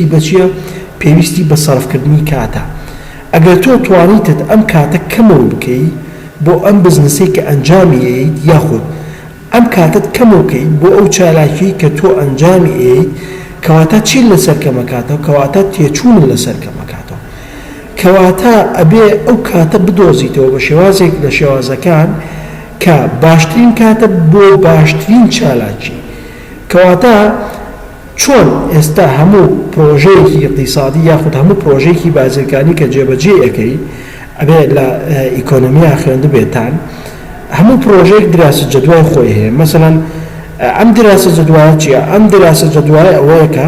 ی بەچیە پێویستی بە سەرفکردنی کاتە ئەگەر تۆ توانیتت ئەم کاتە کەمەوە بکەی بۆ ئەم بزنسەی کە ئەنجامی ئەیەیت یاخود ئەم کاتەت کەمەوە کەیت بۆ ئەو چالاکیەی کە تۆ ئەنجامی ئەیەیت کەواتە چیت لەسەر کەمەکاتەوە کەواتە تێچوونت لەسەر کەمەکاتەوە کەواتە ئەبێ ئەو کاتە بدۆزیتەوە بە شێوازێک لە شێوازەکان کە باشترین کاتە بۆ باشترین چالاکی کەواتە چۆن ئێستا هەموو پرۆژەیەکی ئیقتیسادی یاخود هەموو پرۆژەیەکی بازرگانی کە جێبەجێی ئەکەی ئەبێ لە ئیکۆنۆمیا خوێندبێتان هەموو پرۆژەیەک دراسە جەدوای خۆی هەیە مەسەلەن ئەم دراسە جەدوایە چیە ئەم دراسە جەدوای ئەوەیە کە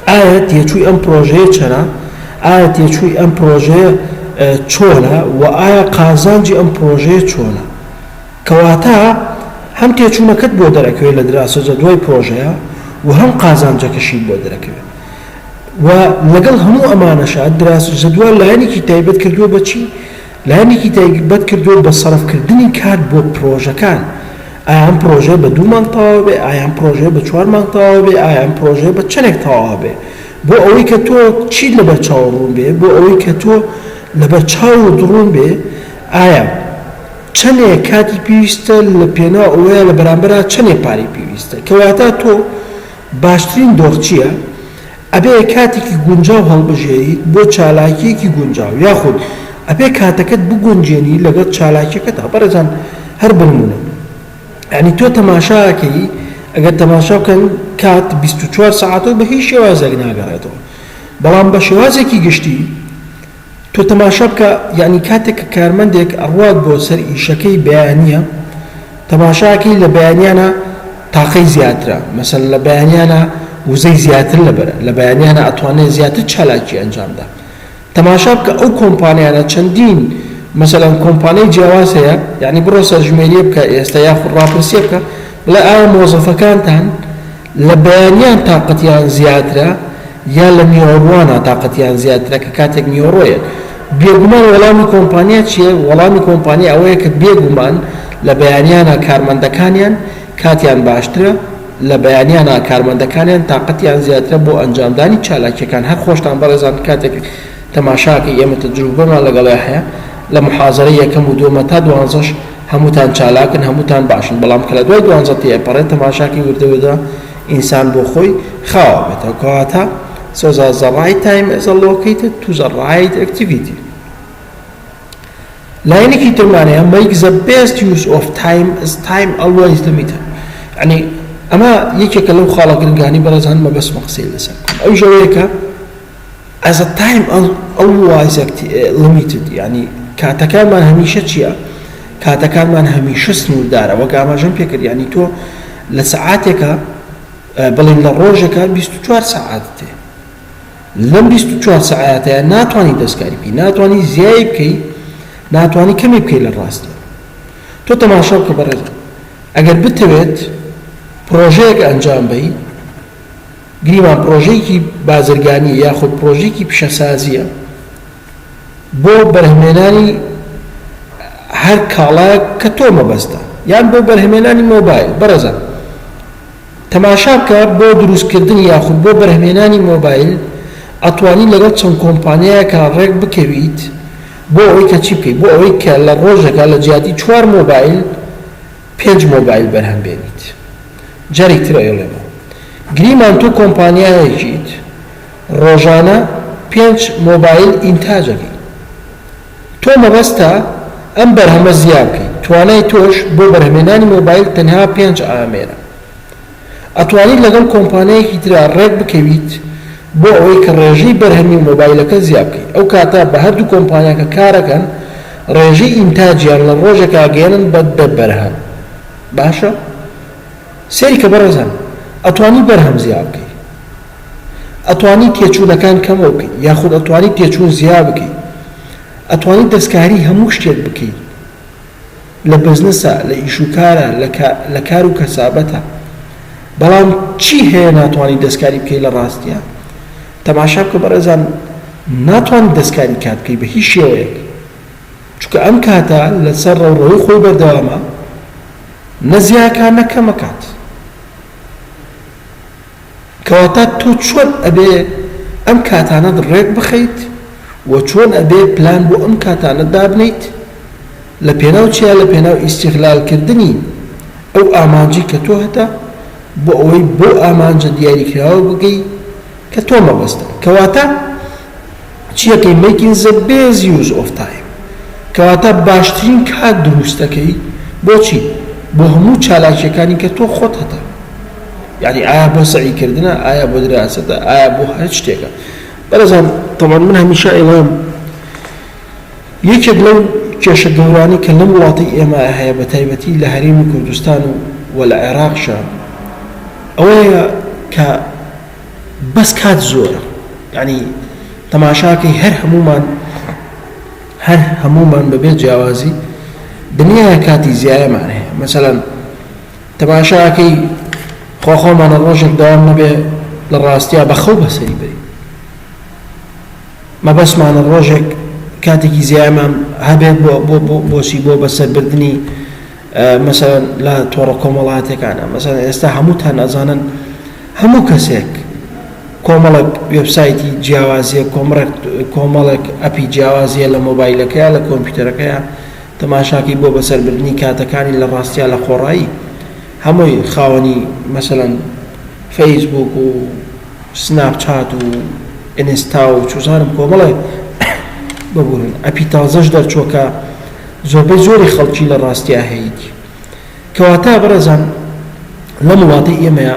ئایا تێچووی ئەم پرۆژەیە چەنە ئایا تێچووی ئەم پرۆژەیە چۆنە و ئایا قازانجی ئەم پرۆژەیە چۆنە کەواتە هەم تێچوونەکەت بۆ دەرەکەوێت لە دراسەجە دوای پرۆژەیە و هەم قازانجەکەشیت بۆ دەرەکەوێت و لەگەڵ هەموو ئەمانەشا دراسەجە دوا لایەنێکی تایبەت کردووە بە چی؟ لایەنێکی تایبەت کردووە بە سەرفکردنی کات بۆ پرۆژەکان ئایا ئەم پرۆژەیە بە دوو مانگ تەواو بێ ئایا ئەم پرۆژەیە بە چوار مانگ تەواو بێ ئایا ئەم پرۆژەیە بە چەندێک تەواو بێ بۆ ئەوەی کە تۆ چیت لەبەر چاو ڕوون بێ بۆ ئەوەی کە تۆ لەبەر چاوت ڕوون بێ ئایا چەنێ کاتی پێویستە لە پێناو ئەوەیە لە بەرامبەرا چەنێ پارەی پێویستە کە واتا تۆ باشترین دۆخ چییە ئەبێ کاتێکی گونجاو هەڵبژێریت بۆ چالاکیەکی گونجاو یاخود ئەبێ کاتەکەت بگونجێنی لەگەڵ چالاکیەکەتا بەڕێزان هەر بنمونە یانی تۆ تەماشاکەی ئەگەر تەماشا بکەن کات بیست و چوار سەعاتەو بە هیچ شێوازێک ناگەڕێتەوە بەڵام بە شێوازێکی گشتی تۆ تەماشا بکە یەعنی کاتێک کە کارمەندێک ئەڕوات بۆ سەر ئیشەکەی بەیانیە تەماشا ئەکەی لە بەیانیانە تاقەی زیاترە مەسەلەن لە بەیانیانە وزەی زیاتر لەبەرە لە بەیانیانە ئەتوانێ زیاتر چالاکی ئەنجام دا تەماشا بکە ئەو کۆمپانیانە چەندین مەسەلەن کۆمپانیای جیاواز هەیە یەعنی بڕۆ سەرژمێریە بکە ئێستا یاخود ڕاپرسیە بکە بڵێ ئایا مۆزەفەکانتان لە بەیانیان تاقەتیان زیاترە یان لە نیوەڕوانا تاقەتیان زیاترە کە کاتێک نیوەڕۆیە؟ بێگومان وەڵامی کۆمپانیا چیە؟ وەڵامی کۆمپانیا ئەوەیە کە بێگومان لە بەیانیانا کارمەندەکانیان کاتیان باشترە، لە بەیانیانا کارمەندەکانیان تاقەتیان زیاترە بۆ ئەنجامدانی چالاکیەکان، هەر خۆشتان بەڕێزان کاتێک تەماشاکەی ئێمە تەجروبەمان لەگەڵیا هەیە لە محازەرەی یەکەم و دووەمە تا دوانزەش، هەمووتان چالاکن هەمووتان باشن بەڵام کە لە دوای دوانزە تێئەپەڕێت تەماشاکەی وردە وردە ئینسان بۆ خۆی خاوە بێتەوە کەواتە سۆزا زە ڕایت تایم ئێز ئە لۆکەیتد تو زە ڕایت ئەکتیڤیتی لاینێکی ترمانەیە مەیک زە بێست یوز ئۆف تایم ئز تایم ئەڵوەیز لمیتد یعنی ئەمە یەکێکە لەو خاڵە گرنگانی بەڕێزان مەبەستمە قسەی لەسەر بکەم ئەو ژەوەیەکە ئەز ئە تایم ئەلوایز ئەکت لیمیتد یانی کاتەکانمان هەمیشە چیە کاتەکانمان هەمیشە سنووردارە وەک ئاماژەم پێکرد یانی تۆ لە سەعاتێکە بڵین لە ڕۆژەکە 24 سەعات تێ لەم 24 سەعاتەیە ناتوانانی دەستکاری بکەی ناتوانانی زیای بکەی ناتوانانی کەمی بکەی لە ڕاستە تۆ تەماشا بکە بەڕێز ئەگەر بتەوێت پرۆژەیەک ئەنجام بەی گریمان پڕۆژەیەکی بازرگانییە یاخود پڕۆژەیەکی پیشەسازییە بۆ بەرهەمهێنانی هەر کاڵایەک کە تۆ مەبەستتە یان بۆ بەرهەمهێنانی مۆبایل بەڕێزان تەماشا بکە بۆ دروستکردنی یاخود بۆ بەرهەمهێنانی مۆبایل ئەتوانی لەگەڵ چەند کۆمپانیایەکا ڕێک بکەویت بۆ ئەوەی کە چی بکەیت بۆ ئەوەی کە لە ڕۆژەکا لە جیاتی چوار مۆبایل پێنج مۆبایل بەرهەم بێنیت جاری تر ئەیڵێمەوە گریمان تۆ کۆمپانیایەکیت ڕۆژانە پێنج مۆبایل ئینتاج ئەکەی تۆ مەبەستە ئەم بەرهەمە زیا بکەیت توانای تۆش بۆ بەرهەمێنانی مۆبایل تەنها پێنج ئامێرە ئەتوانیت لەگەڵ کۆمپانیایەکی ترا ڕێک بکەویت بۆ ئەوەی کە ڕێژەی بەرهەمی مۆبایلەکە زیا بکەیت ئەو کاتە بە هەردوو کۆمپانیا کە کارەکەن ڕێژەی ئینتاجیان لە ڕۆژێکا گەیەنن بە دە بەرهەم باشە سەیری کە بەڕێزان ئەتوانی بەرهەم زیا بکەی ئەتوانی تێچوونەکان کەمەوە بکەی یاخود ئەتوانی تێچوون زیا بکەی ئەتوانی دەستکاری هەموو شتێک بکەی. لە بزنسە، لە ئیش و کارە، لە کار و کەسابەتە. بەڵام چی هەیە ناتوانی دەستکاری بکەی لە ڕاستیا؟ تەماشا بکە بەڕێزان ناتوانی دەستکاری کات بکەی بە هیچ شێوەیەک. چونکە ئەم کاتە لە سەر ڕەوڕەوەی خۆی بەردەوامە نە زیاکا نە کەمەکات. کەواتە تۆ چۆن ئەبێ ئەم کاتانەت ڕێک بخەیت و چۆن ئەبێ پلان بۆ ئەم کاتانە دابنێیت لە پێناو چیا لە پێناو ئیستیغلال کردنی ئەو ئامانجەی کە تۆ هەتە بۆ ئەوەی بەو ئامانجە دیاری کراوە بگەی کە تۆ مەبەستە کەواتە چیەکەی مەیکین زە بێز یوز ئۆف تایم کەواتە باشترین کات دروستەکەی بۆچی بۆ هەموو چالاکیەکانی کە تۆ خۆت هەتە یانی ئایا بۆ سەعی کردنە ئایا بۆ دراسەتە ئایا بۆ هەر شتێکە بەرەزان تەوان من هەمیشە ئێڵام یەکێک لەو کێشە گەورانی کە لەم وڵاتی ئێمە هەیە بە تایبەتی لە هەرێمی کوردستان و وە لە عێراقشە ئەوەیە کە بەس کات زۆرە یانی تەماشاکەی هەر هەموومان هەر هەموومان بەبێ جیاوازی دنیاە کاتی زیایەمان هەیە مەسەلەن تەماشاکەی خۆخۆمانە ڕۆژێک داوام نەبێ لە ڕاستیا بەخەو بەسەری بری مەبەسمانە ڕۆژێک کاتێکی زیایمان هەبێت بۆ بۆ بۆسی بۆ بەسەربردنی مەسەلەن لە تۆڕە کۆمەڵاتیەکانا مەسەلەن ئێستا هەمووتان ئەزانن هەموو کەسێک کۆمەڵێک وێبسایتی جیاوازیە کۆمڕێک کۆمەڵێک ئەپی جیاوازیە لە مۆبایلەکەیە لە کۆمپیوتەرەکەیە تەماشاکەی بۆ بەسەربردننی کاتەکانی لە ڕاستیا لە خۆڕایی هەمووی خاوەنی مەسەلەن فەیسبوک و سناپچات و ئینستا و چوزانم کۆمەڵێ ببوورن ئەپی تازەش دەرچووکە زۆربەی زۆری خەڵکی لە ڕاستیا هەیتی. کەواتە بەڕێزان لەم وڵاتەی ئێمەیا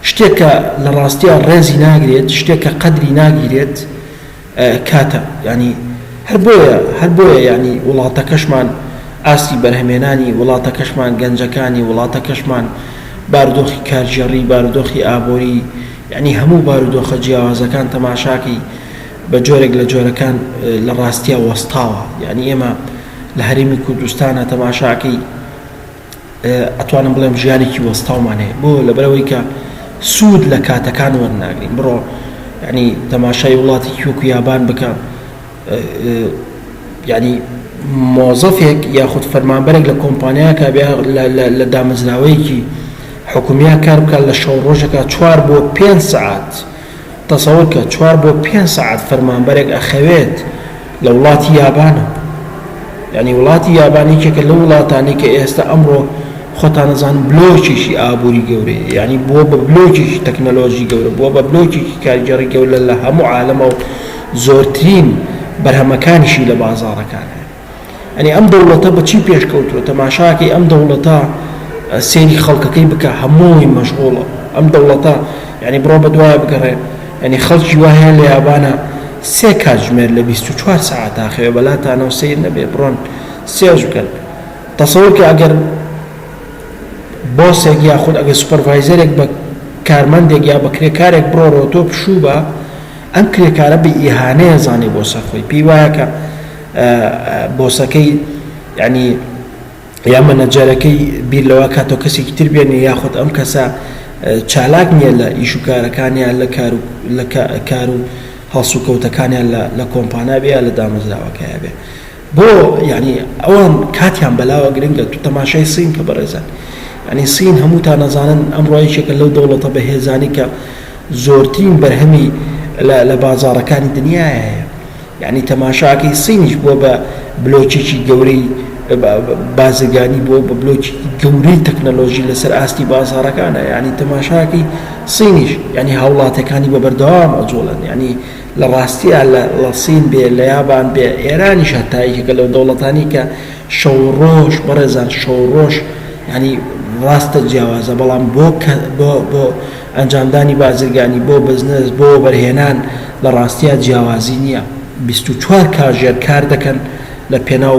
شتێک کە لە ڕاستیا ڕێزی ناگرێت، شتێک کە قەدری ناگیرێت کاتە. یانی هەر بۆیە هەر بۆیە یانی وڵاتەکەشمان ئاستی بەرهەمێنانی وڵاتەکەشمان گەنجەکانی وڵاتەکەشمان باردۆخی کارگێڕی باردۆخی ئابۆری یانی هەموو بارودۆخە جیاوازەکان تەماشاکەی، بە جۆرێک لە جۆرەکان لە ڕاستیا وەستاوە یعنی ئێمە لە هەرێمی کوردستانە تەماشاکەی ئەتوانم بڵێم ژیانێکی وەستاومان هەیە بۆ لەبەرەوەی کە سوود لە کاتەکان وەرناگرین بڕۆ ینی تەماشای وڵاتی کیوک یابان بکە ینی مۆزەفێک یاخود فەرمانبەرێک لە کۆمپانیاکە لە دامەزراوەیەکی حکومیان کار بکات لە شەو ڕۆژەکە چوار بۆ پێ سعات. تەسەور کە چوار بۆ پێنج سەعات فەرمانبەرێک ئەخەوێت لە وڵاتی یابان یانی وڵاتی یابان یەکێکە لەو وڵاتانەی کە ئێستا ئەمڕۆ خۆتان ئەزانن بلۆکێکی ئابووری گەورەیە یانی بووە بە بلۆکێکی تەکنەلۆژی گەورە بووە بە بلۆکێکی کارگێڕی گەورە لە هەموو عالەمەوە زۆرترین بەرهەمەکانیشی لە بازاڕەکانە ئەرێ ئەم دەوڵەتە بە چی پێش کەوتووە تەماشاکەی ئەم دەوڵەتە سێری خەڵکەکەی بکە هەمووی مەشغوڵە ئەم دەوڵەتە یعنی بڕۆ بە دوایە بگەڕێ یعنی خەڵکی وایە لە یابانە سێ کاتژمێر لە 24 ساعت تاخەوێ بەلاتانەوە سیر نەبێ بڕۆن سێژ بکەن تەسەورکە ئەگەر بۆسێک یاخود ئەگەر سوپەرڤایزەرێک بە کارمەندێک یا بە کرێکارێک بڕۆڕۆ تۆ پشوو بە ئەم کرێکارە بە ئیهانەیە زانێ بۆ سەرخۆی پێی وایە کە بۆسەکەی یانی یا مەنەجەرەکەی بیر لەوە کاتۆ کەسێکی تر بێنێ یاخود ئەم کەسە چالاک نییە لە ئیش و کارەکانیان لە کار و لە کار و هەڵسو کەوتەکانیان لە کۆمپانیا بێ لە دامەزراوەکەیە بێ بۆ یعنی ئەوان کاتیان بەلاوە گرنگە تو تەماشای سین کە بەڕێزان ینی سین هەموو تا نەزانن ئەم ڕۆیشێکە لەو دەوڵەتە بەهێزانی کە زۆرترین بەرهەمی لە بازارەکانی دنیاە هەیە یانی تەماشاکەی سینیش بوە بە بلۆکێکی گەورەی بازرگانی بوە بە بلۆکی گەورەی تەکنەلۆژی لەسەر ئاستی بازاڕەکانە یانی تەماشاکەی سینیش یانی هاوڵاتەکانی بە بەردەوام ئەجوڵێن یانی لە ڕاستیا لە سین بێ لە یابان بێ ئێرانیش هەتا یەکێکە لەو دەوڵەتانی کە شەو و ڕۆژ بەڕێزان شەو و ڕۆژ یانی ڕاستە جیاوازە بەڵام بۆ کە بۆ بۆ ئەنجامدانی بازرگانی بۆ بزنس بۆ وەبەرهێنان لە ڕاستیا جیاوازی نیە بیست و چوار کاژێر کار دەکەن لە پێناو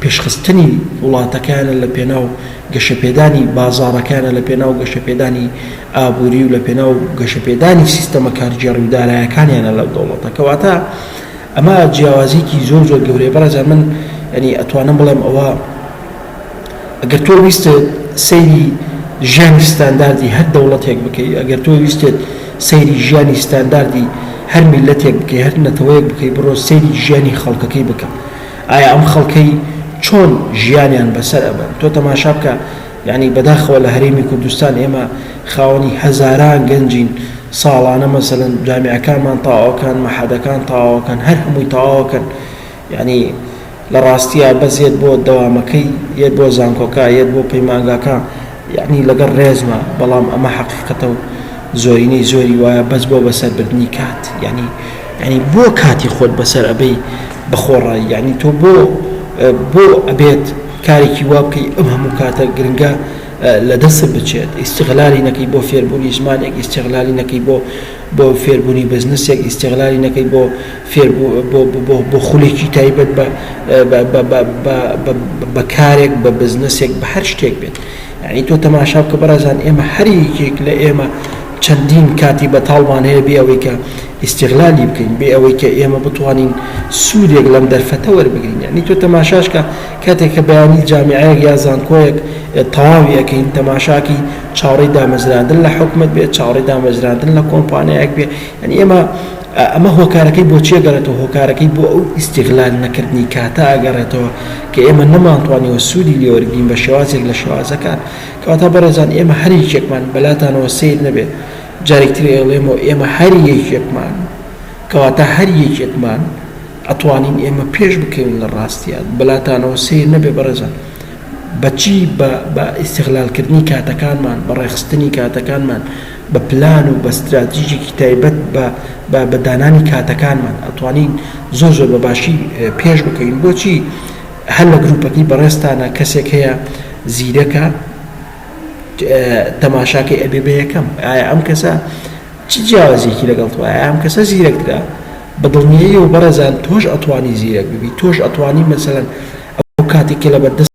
پێشخستنی وڵاتەکەیانە لە پێناو گەشەپێدانی بازاڕەکەیانە لە پێناو گەشەپێدانی ئابوری و لە پێناو گەشەپێدانی سیستەمە کارگێڕی و دارایەکانیانە لە دەوڵەتە کەواتە ئەمە جیاوازیەکی زۆر زۆر گەورەیە بەڕێزان من یانی ئەتوانم بڵێم ئەوە ئەگەر تۆ ویستت سەیری ژیانی ستانداردی هەر دەوڵەتێک بکەی ئەگەر تۆ ویستت سەیری ژیانی ستانداردی هەر میلەتێک بکەی هەر نەتەوەیەک بکەی بڕۆ سەیری ژیانی خەڵکەکەی بکە ئایا ئەم خەڵکەی چۆن ژیانیان بەسەر ئەبەن تۆ تەماشا بکە یانی بەداخەوە لە هەرێمی کوردستان ئێمە خاوەنی هەزاران گەنجین ساڵانە مەسەلەن جامعەکانمان تاواکەن مەحەدەکان تاواکەن هەر هەمووی تاواکەن یانی لە ڕاستیە بەس یەت بۆ دەوامەکەی یەت بۆ زانکۆکە یەت بۆ پەیمانگاکە یانی لەگەڵ ڕێزمە بەڵام ئەمە حەقیقەتە و زۆرینەی زۆری وایە بەس بۆ بەسەربردنی کات یانی یانی بۆ کاتی خۆت بەسەر ئەبەی بەخۆڕایی یانی تۆ بۆ بۆ ئەبێت کارێکی وا بکەی ئەم هەموو کاتە گرنگە لە دەستت بچێت ئیستیغلالی نەکەی بۆ فێربوونی زمانێک ئیستیغلالی نەکەی بۆ بۆ فێربوونی بزنسێک ئیستیغلالی نەکەی بۆ فێر بۆ خولێکی تایبەت بە بە کارێک بە بزنسێک بە هەر شتێک بێت یعنی تۆ تەماشا بکە بەڕێزان ئێمە هەر یەکێک لە ئێمە چەندین کاتی بەتاڵمان هەیە بێ ئەوەی کە ئیستیغلالی بکەین بێ ئەوەی کە ئێمە بتوانین سوودێک لەم دەرفەتە وەربگرین یەعنی تۆ تەماشاش کە کاتێک کە بەیانی جامیعەیەک یا زانکۆیەک تەواوی ئەکەین تەماشاکی چاوەڕێی دامەزراندن لە حکومەت بێ چاوەڕێی دامەزراندن لە کۆمپانیایەک بێ یەعنی ئێمە ئەمە هۆکارەکەی بۆ چی ئەگەڕێتەوە هۆکارەکەی بۆ ئەو ئیستیغلال نەکردنی کاتە ئەگەڕێتەوە کە ئێمە نەمانتوانیوە سوودی لێ وەرگرین بە شێوازێک لە شێوازەکان کەواتە بەڕێزان ئێمە هەر یەکێکمان بەلاتانەوە سەیر نەبێ جارێک تر ئەیڵێمەوە ئێمە هەر یەکێکمان کەواتە هەر یەکێکمان ئەتوانین ئێمە پێش بکەوین لە ڕاستیا بەلاتانەوە سەیر نەبێ بەڕێزان بە چی بە بە ئیستغلالکردنی کاتەکانمان بە ڕێخستنی کاتەکانمان بە پلان و بە ستراتیژێکی تایبەت بە بە دانانی کاتەکانمان ئەتوانین زۆر زۆر بە باشی پێش بکەوین بۆچی هەر لە گروپەکەی بەڕێزتانە کەسێک هەیە زیرەکە تەماشاکەی ئەبێ بە یەکەم ئایا ئەم کەسە چ جیاوازیەکی لەگەڵ تۆ ئایا ئەم کەسە زیرەکترە بە دڵنیایەوە بەڕێزان تۆش ئەتوانی زیرەک ببی تۆش ئەتوانی مەسەلەن ئەو کاتێک کە لەبەردەست